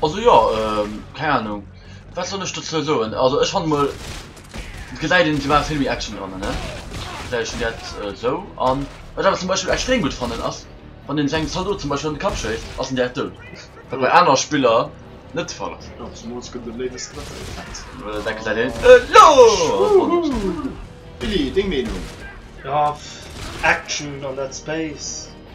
Also jo, keng Ahnung wat soll ech dozou soen, also ech fannen mol et gesäit een et war vill méi Action dran ne, vläicht hun dat esou an wat awer zum Beispill extrem gutt fannen ass wann een sengem Zaldot zum Beispill an de Kapp schéisst ass en direkt dout, wat bei aner Spiller net de Fall ass. Dat gesäit een elo wonnerschéin. Willy, deng Meenung? Graff, Action an dat Space.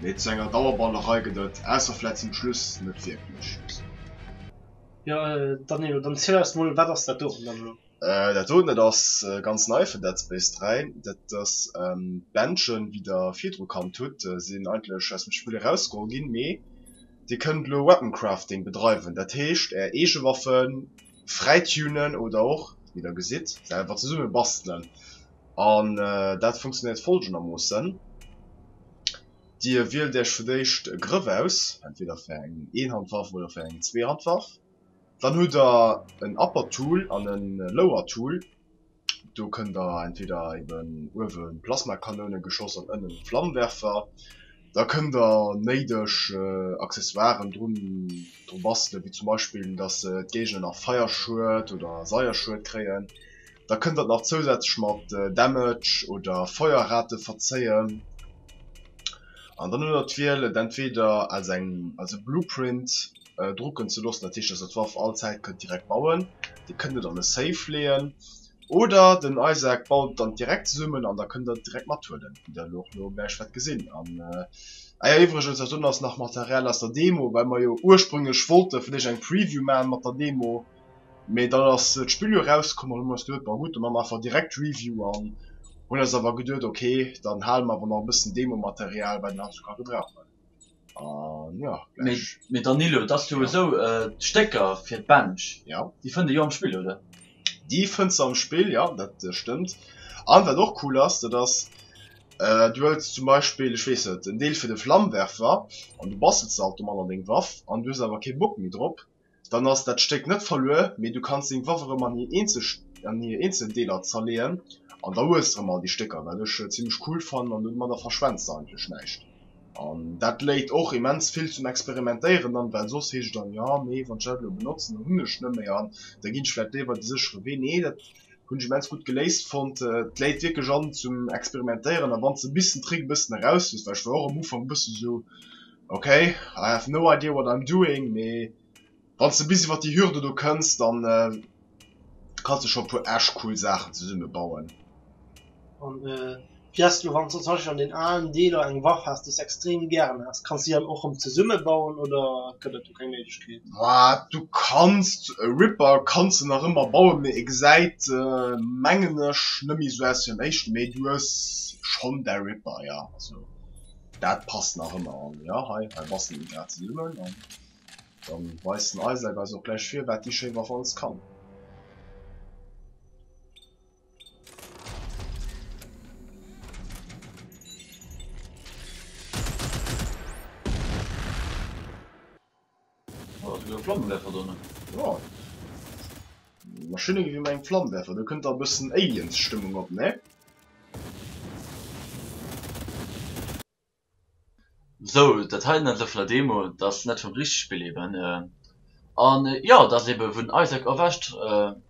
Mee zu enger Dauerballerei gëtt et, ausser vläit zum Schluss, net wierklech. Jo, Danilo, dann ziel eis mol, wat ass dat doten dann elo? Dat doten, dat ass ganz nei fir Dead Space 3. Dat ass d'Bändchen, wéi der virdru kannt hutt. Si sinn eigentlech aus dem Spill erausgeholl ginn, mee dir kënnt elo Weapon Crafting bedreiwen. Dat heescht, är eege Waffen fräitunen oder och, wéi der gesitt, selwer zesumme bastelen. An dat funktionéiert folgendermoossen, Dir wielt Iech fir d'éischt e Grëff aus, entweder fir eng Eenhandwaff oder fir eng Zweehandwaff. Dann hutt Der en Upper Tool an e Lower Tool. Do kënnt Der entweder eben uewe Plasmakanoune geschoss an ënnen e Flammenwerfer. Da kënnt der néideg Accessoiren drun bastelen, wéi zum Beispill, dass d'Géigner nach Feierschued oder Seierschued kréien. Da kënnt der et nach zousätzlech mat Damage oder Feuerrate verzéien. An dann hutt der d'Wiel, et entweder als eng als e Blueprint drucken ze loossen, dat heescht, dass der d'Waff all Zäit kënnt direkt bauen. Dir kënnt et an e Safe leeën. Oder den Isaac baut et dann direkt zesummen an da kënnt der et direkt mathuelen, wéi der elo och lo gläich wäert gesinn. An ah jo, iwwregens, och do ass nach Material aus der Demo, well mer jo ursprünglech wollte vun iech eng Preview maachen mat der Demo, mee dann ass d'Spill jo erauskomm an hunn eis geduet, bon gutt, da maache mer einfach direkt d'Review an hunn eis awer geduet, ok, dann hale mer awer nach e bëssen Demo-Material, wat een heizouka gebrauchen. Uh, ja, mit Danilo dass du ja. so äh, Stecker fir Bench ja. die fënnt jo am Spiel oder Die fënnt am Spiel ja dat äh, stimmt an wat och cool ass dat ass äh, du hues zum Beispiel ich wees den Deel fir de Flammwerfer an du bastelt ze automat an deng Waff an du awer ke Bock mi drop dann ass dat Stéck net verluer, mee du kanns deng Waff erëm an hir eenzel an hir eenzel Deeler zerleeën an da hues de erëm all déi Stécker, wat ech zimmlech cool fannen an domadder verschwends de eigentlech näischt. An dat léit och immens vill zum Experimentéieren an, well soss heescht et dann, jo mee wann ech dat elo benotzen, dann hunn ech net méi an da ginn ech vläicht léiwer de séchere Wee. Nee, dat hunn ech immens gutt geléist fonnt. Et léit wierklech an zum Experimentéieren a wann s de e bëssen Trick e bëssen eraus hues, well ech war och am Ufank e bësse sou, Ok, I have no idea what I'm doing, mee wann s de bis iwwert déi Hürde do kënns, dann kanns de scho e puer echt cool Saachen zesumme bauen. An wéi ass et elo, wann s de zum Beispill an den alen Deeler eng Waff has, déi s extrem gären has? Kanns déi dann och rëm zesumme bauen oder gëtt et do keng Méiglechkeet? Bah, du kanns, e Ripper kanns de nach ëmmer bauen, mee e gesäit, mengen ech, net méi esou aus wéi am éischten, mee du hues schonn däi Ripper, jo. Dat passt nach ëmmer an jo hei hei bastelen mir grad zesummen an dann weist den Isaac eis och gläich vir wat déi schéi Waff alles kann. Oh, do gouf Flammenwerfer donnen. Jo. Mar schön irgendwie meng Flammenwerfer. Do kënnt da bëssen Aliens Stëmmung op, ne? Sou, dat heiten ass elo vun der Demo, dat ass net vum richtege Spill eben. An jo, dat ass eben wou den Isaac erwächt.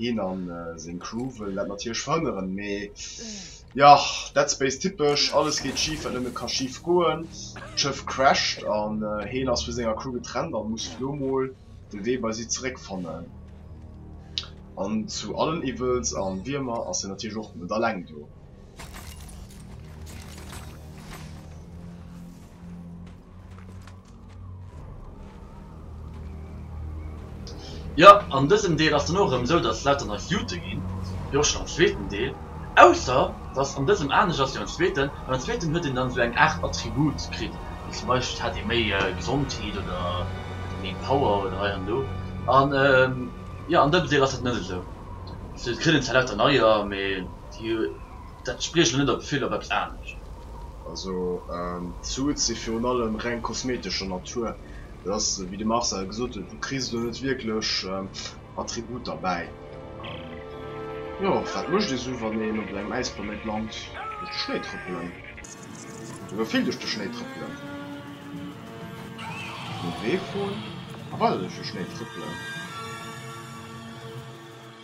Heen a seng Crew wëllen dat natierlech verhënneren, mee jo, Dead Space typesch, alles geet schif wat nëmme ka schif goen, d'Schëff crasht an heen ass vu senger Crew getrennt an muss lo mol de Wee bei si zeréck fannen. An zu allen Evils an Wiermer ass hien natierlech och net alleng do. Jo, an dësem Deel ass dann och erëm esou, datt lauter neif Jute ginn, jo schonn am zweeten Deel, ausser datt an dësem anescht ass wéi am zweeten, well am zweeten huet een dann esou eng Aart Attribut kritt, wéi zum Beispill hat ee méi Gesondheet oder méi Power oder hei an do, an jo an dësem Deel ass dat net esou, also et kritt een zwar lauter neier, mee déi Dat spriech elo net op vill op eppes anescht. Also d'Suit si virun allem reng kosmetescher Natur. Dat ass, wéi de Marcel gesot huet, du kriss elo net wierklech Attributer bäi. Jo, wat mécht ee sou, wann een op engem Äisplanéit lant? Duerch de Schnéi trëppelen. Souguer vill duerch de Schnéi trëppelen. Nom Wee froen, a weider duerch de Schnéi trëppelen.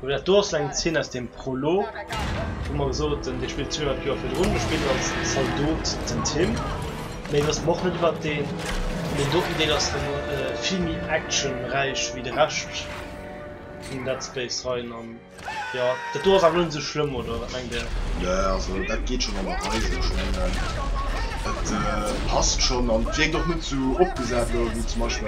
Dat do ass eng Zeen aus dem Prolog, wou mer gesot haten, dee spillt 200 Joer virdrun. Do spillt als Zaldot den Tim. Méi wësse mer och net iwwert deen. An deen doten Deel ass dann vill méi actionräich wéi de Rescht vum Dead Space Reien. An jo, dat do ass awer net esou schlëmm, oder wat mengt Dir? Nö, also dat geet schonn an der Rei esou. Ech mengen, et passt schonn an et wierkt och net esou opgesat elo wéi zum Beispill.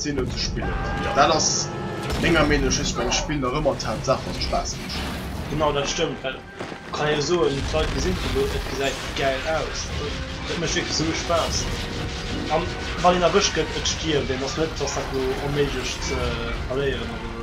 Zeno ze spillen. Dat ass menger Meenung just beim Spill nach ëmmer d'Haaptsaach, dass et Spaass mécht. Genau, dat stëmmt, well et kann ee jo soen, d'Leit gesinn et elo, et gesäit gäil aus, et mécht wierklech esou Spaass. A wann een erwëscht gëtt, et stierft een, et ass net, dass dat elo onméiglech ze verléieren ass oder esou.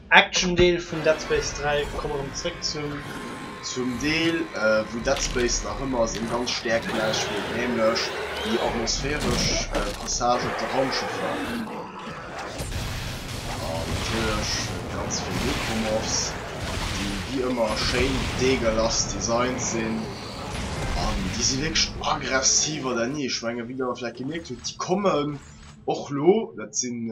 Action Deel vun Dead Space 3, komme rem zréck zum. Zum Deel wou Dead Space nach ëmmer seng ganz Stäerkt gelaanscht huet, nämlech déi atmosphäresch Passage op de Raumschëffer an natierlech ganz vill Necromorphs, déi wéi ëmmer schéin deegelas designt sinn an déi si wierklech aggressiv an der Ni. Ech menge wéi der vläicht gemierkt hutt, déi kommen och lo, dat sinn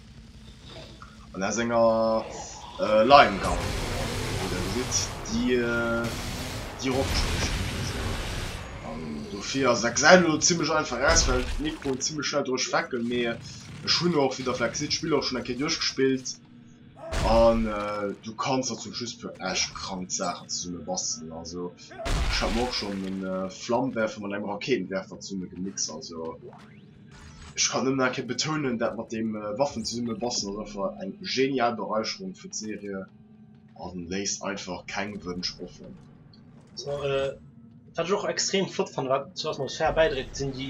An aus enger Line gang, wou der gesitt, déi déi eropgespigelt gëtt. An dofir ass et XL elo zimmlech einfach aus, well d'Mikroen zimmlech schnell doduerch wecken. Mee ech hunn och, wéi der vläicht gesitt, d'Spill och schonn eng Kéier duerchgespillt. An du kanns der zum Schluss e puer echt krank Saachen zesumme bastelen. Also ech hat mer och schonn e Flammenwerfer mat engem Raketenwerfer zesumme gemixt. Also. Ech kann nëmmen nach eng Kéier betounen, dat mat dem Waffen zesumme bastelen ass einfach eng genial Bereicherung fir d'Serie a léisst einfach keng Wënsch offen. So, wat ech och extrem flott fannen, wat zur Atmosphär bäidréit, sinn déi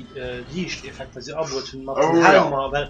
Liichteffekter, déi se abuet hunn mat den Helmer, well.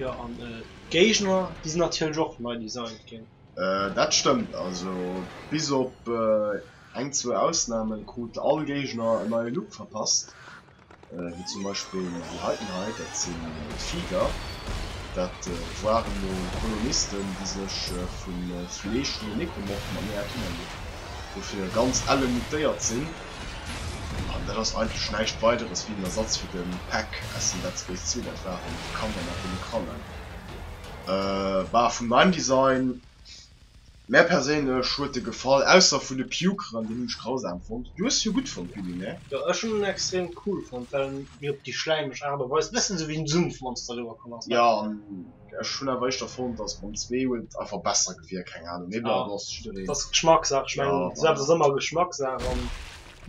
Jo an d'Géigner déi sinn natierlech och nei designt ginn. Dat stëmmt, also bis op eng zwou Ausnamen krut all Géigner en neie Look verpasst. wéi zum Beispill déi heiten hei, dat sinn d'Viehgär, dat ware mol Kolonisten, déi sech vu Fleesch vun den Nekomorphen am Meer ernährt hunn, dofir ganz elle mutéiert sinn, an dat ass eigentlech näischt weideres wéi en Ersatz fir de Peck aus dem Dead Space zwee, dat waren d'Kanner mat deene Krallen, bah, vun mäim Design. Mär perséinlech huet de gefall, ausser vun de Pukeren, deen hun ech grausam fonnt. Du hues se jo gudd fonnt Willy, nee? Jo, ech hun en extrem cool fonnt, well en mir op déi schläimeg Art a Weis bessen sou wéi en Sumpfmonster riwwer komm ass, ne? Jo, an ech hun awer éischter fonnt, dass mam zwee huet einfach besser gewierkt, keng Ahnung, mee bon, do ass jiddereen. Ass Geschmackssaach, ech mengen, dës ass emmer Geschmackssaach, an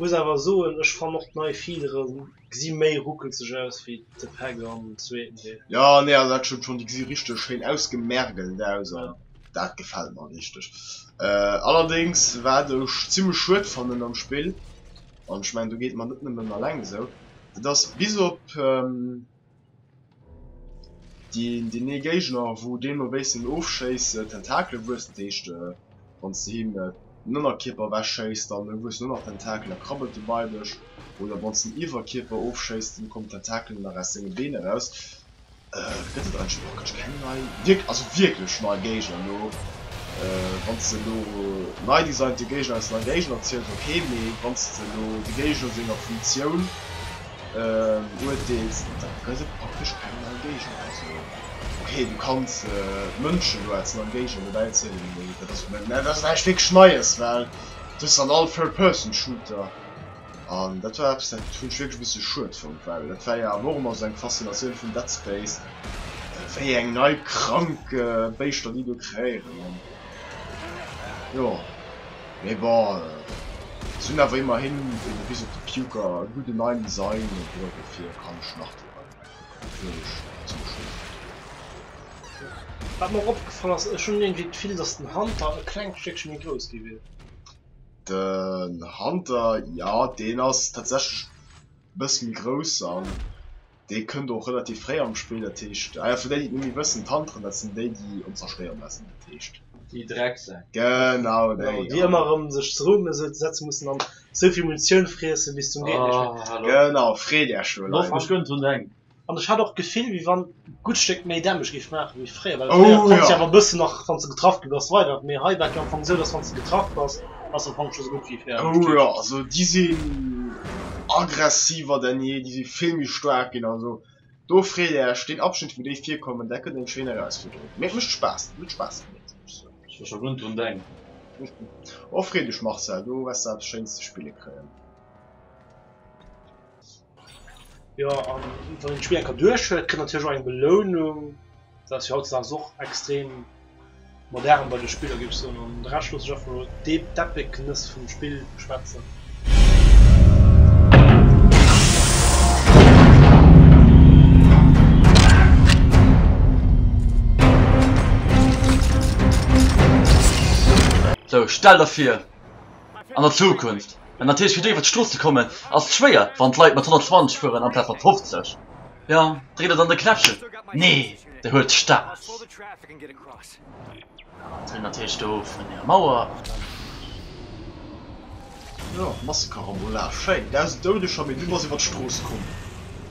muss awer soen, ech fann och d'nei Feeleren. Gsi méi ruckelzeg aus wéi de Peck am zweeten Deel. Jo nee also dat stëmmt schon, déi gesi richteg schéin ausgemergelt aus an dat gefällt mer richteg. Allerdéngs wat ech zimlech schued fannen am Spill, an ech mengen do geet mer net nëmmen alleng esou, dat ass bis op Déi nee Géigner wou deen no béissen ofschéissen Tentakele wuessen, dat heescht wann s de him den Ënnerkierper ewech schéiss dann wuessen och nach Tentakelen, da krabbelt de bei dech, oder wann s den Iwwerkierper ofschéiss dann kommen Tentakelen nach aus senge Been eraus. Gëtt et eigentlech praktesch keng nei, also wierklech nei Géigner elo? Wann s de elo nei designte Géigner aus nei Géigner ziels, ok, mee wann s de elo de Géigner senger Funktioun, Uerteels, da gëtt et praktesch keng nei Géigend. Also ok, du kanns d'Mënschen do als nei Géigend dobäi zielen, mee dat ass, mä dat ass näischt wierklech Neies, well et ass dann all Third Person Shooter. An dat war eppes, dat hunn ech wierklech e bësse schued fonnt, well dat war jo awer och ëmmer esou eng Faszinatioun vun Dead Space, wéi eng nei krank Béischter déi do kreéieren. An jo. Mee bon, se hunn awer immerhin fir de Visit the Puker e gudden neien Design an duerfir kann ech nach do reinkucken, obwuel ech zimmlech schonn drop dréinen. Wat mer och opgefall ass, ech hunn iergendwéi d'Gefill, dass den Hunter e klengt Stéckche méi grouss gi wier. Den Hunter, jo, deen ass tatsächlech e bësse méi grouss. dee kënnt och relativ fréi am Spill, dat heescht ah jo fir déi déi et net méi wëssen, d'Hunteren dat sinn déi déi ons zerstéiere laassen, dat heescht Déi Drecksäck. genau déi, déi ëmmer erëm sech ze Rumm setze mussen an esou vill Munitioun friessen bis zum geet nech méi. Oh hallo. Genau, freet Äech elo Left, Leit. ech gönnt hunn eng. An ech hat och d'Gefill wéi wann gutt Stéck méi Damage géif maache wéi fréier, well fréier oh jo konns de awer e bëssen nach wann s de getraff gi bass weider, mee hei war et jo am Fong esou dass wann s de getraff bass, ass am Fong scho sou gutt wéi fäerdeg. Oh jo, also déi sinn aggressiver denn je, déi si vill méi staark ginn. Also do freet Äech, deen Abschnitt wou déi virkommen, dat gëtt eng schéin Erausfuerderung, mee et mécht Spaass, et huet Spaass gemeet muss ech soen. Ech war scho run drun denken. Oh freet Iech Marcel, do wärst de eppes schéins ze spille kréien. Jo an wann een d'Spill enker duerch huet kritt natierlech och eng Belounung, dat ass jo hautzedags och extrem modern bei de Spiller géif ech soen an de Rescht loosse ech einfach mol d'Epic-ness vum Spill schwätzen. Sou stell der fir an der Zukunft, mä natierlech fir do iwwert d'Strooss ze kommen ass schwéier, wann d'Leit mat 120 fueren amplaz mat 50. Jo, dréit et an de Knäppchen. Nee, dee huet d'Stad. An hunn natierlech do vun där Mauer. Jo, Massekarambolage, schéin, 1000 Doudeger, mee du bass iwwert d'Strooss komm.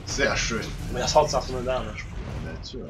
Sehr schön. Mee ass haut d'Saach net anescht. Net, jo.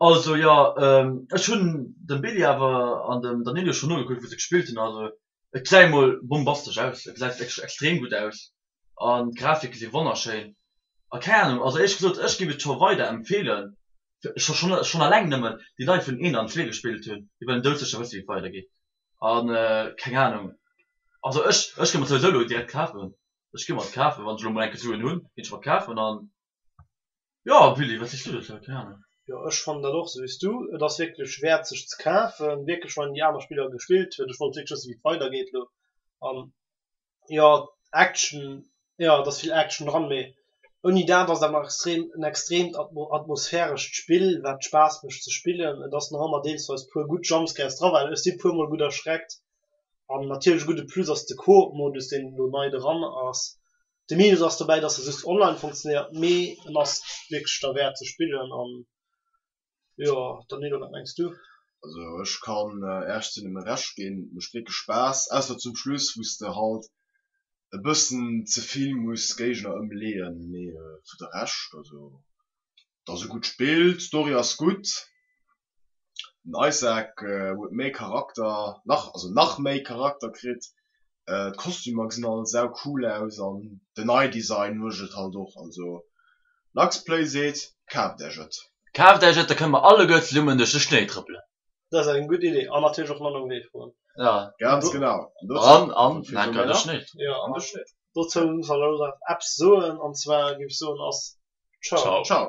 Also jo, ech hunn dem Billy awer an dem Danilo schonn nogekuckt wou se gespillt hunn, also et gesäit emol bombastesch aus, et gesäit wierklech extrem gutt aus an d'Grafike si wonnerschéin a keng Ahnung, also éierlech gesot ech géif et scho weider empfeelen, scho schonn alleng nëmmen déi Leit vun 1 an 2 gespillt hunn déi wëllen doudsécher wësse wéi et weider geet an keng Ahnung, also ech ech géif mer souwisou elo direkt kafen, ech géif mer et kafen wann ech elo mol enke Suen hunn, géif ech mer et kafen an. Jo Willy, wat sees du dozou? Keen Ahnung. Jo ech fannen dat och sou wéis du. Et ass wierklech wäert sech ze kafen, wierklech wann een déi aner Spiller gespillt huet. Ech wollt wierklech wëssen wéi et weider geet elo an jo Action, jo et ass vill Action dran mee ouni dat ass et awer nach extrem en extreemt atmosphärescht Spill wat Spaass mécht ze spillen. Et ass nach ëmmer deelsweis puer gutt Jumpscares dra well ech si puer mol gutt erschreckt an natierlech e gudde Plus ass de Coop Modus deen elo nei dran ass De Minus ass dobäi, dass e just online funktionéiert, mee en ass wierklech derwäert ze spillen. An jo, Danilo, wat mengs du? Also ech kann Äech zu engem Recht ginn, et mécht wierklech Spaass, ausser zum Schluss wou s de halt e bëssen ze vill muss Géigner ëmleeën, mee vu de Rescht, also et ass e gutt Spill, d'Story ass gutt, Den Isaac huet méi Charakter, nach, also nach méi Charakter kritt. D'Kostümer gesinn all sau cool aus an den Eye Design muecht et halt och. Also Lux Play seet, kaaft Äech et! Kaaft Äech et, da kënne mer alleguer zesummen duerch de Schnéi trëppelen! Dat ass eng gutt Idee an natierlech och manner um Wee froen. Ganz genau! An dozou. Dozou muss ech awer nach eppes soen an zwar géif ech soen ass Ciao!